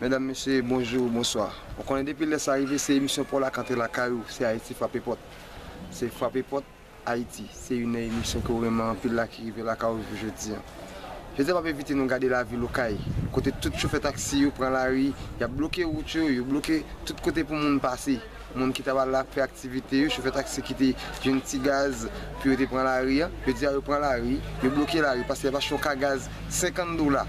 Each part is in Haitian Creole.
Medam mesye bonjou bonswa ou konnen depi lè sa rive se emisyon paw la k antre lakay ou se ayiti frape pòt se frape pòt ayiti se youn nan emisyon ke ou renmen anpil la ki rive lakay ou jou jodi an jodi a map envite nou gade lavil okay kote tout chofè taksi yo pran lari yap bloke wout yo yo bloke tout kote pou moun pase. Moun ki t ap al la fè aktivite yo, chofè taksi ki te jwenn ti gaz pou yo te pran lari an, jodi a yo pran lari, yo bloke lari paske y ap achte yon ka gaz 50 dola,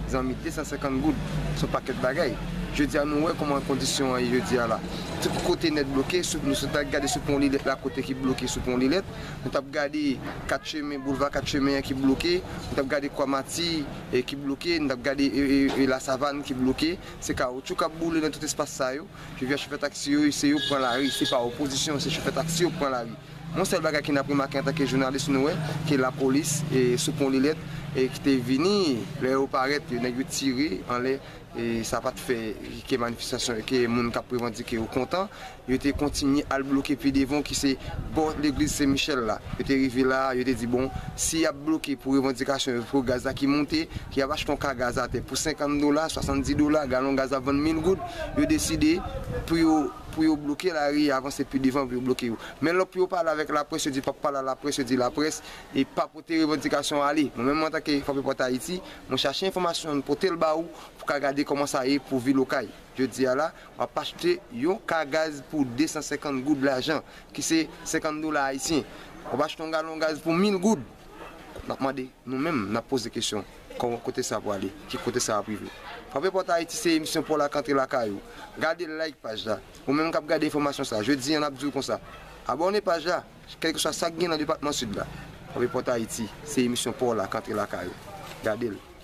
zanmi 250 goud s on pakèt bagay. Jodi a nou wè kòman kondisyon an ye jodi a la. Tout kote nèt bloke, sou nou sot al gade sou pon Lilèt la kote ki bloke sou pon Lilèt, nou t ap gade 4 chemen, boulva 4 chemen an ki bloke, nou t ap gade kwa Mati ki bloke, nou t ap gade Lasavann ki bloke, se kawotchou k ap boule nan tout espas sa yo. Pi vya chofè taksi yo se yo pran lari, se pa opozisyon, se chofè taksi yo k pran lari. Yon sèl bagay ke n ap remake antanke jounalis nou wè ke lapolis sou pon Lilèt ki te vini, lè yo parèt nèg yo tire anlè e sa pa t fè ke manifestasyon yo, ke moun k ap revandike yo kontan. Yo te kontinye al bloke pi devan ki se bò legliz Sen Michèl la. Yo te rive la a, yo te di bon si y ap bloke pou revandikasyon yo pou gaz la ki monte, ke y ap achte yon ka gaz atè pou 50 dola, 70 dola, galon gaz ap vann 1000 goud. yo deside pou yo pou yo bloke lari ya avanse pi devan pou yo bloke yo men lò pou yo pale avèk laprès yo di pap pale a laprès yo di laprès e pa pote revandikasyon ale mwen menm antanke fanmi pòt ayiti mwen chache enfòmasyon an pote l ba ou pou ka gade kòman sa ye pou vil okay jodi a la wap achte yon ka gaz pou 250 goud lajan ki se 50 dola ayisyen wap achte yon galon gaz pou 1000 goud. N ap mande nou menm, n ap poze kesyon, kòman, kote sa pwale, ki kote sa ap rive? Frape Pòt Ayiti se emisyon pou w lak antre lakay ou. Gade like paj la. Ou menm k ap gade enfòmasyon sa, jodi an n ap di w konsa, abòne paj la, kèlkeswa sa k gen nan depatman Sid la. Frape Pòt Ayiti se emisyon pou w lak antre lakay ou. Gade l.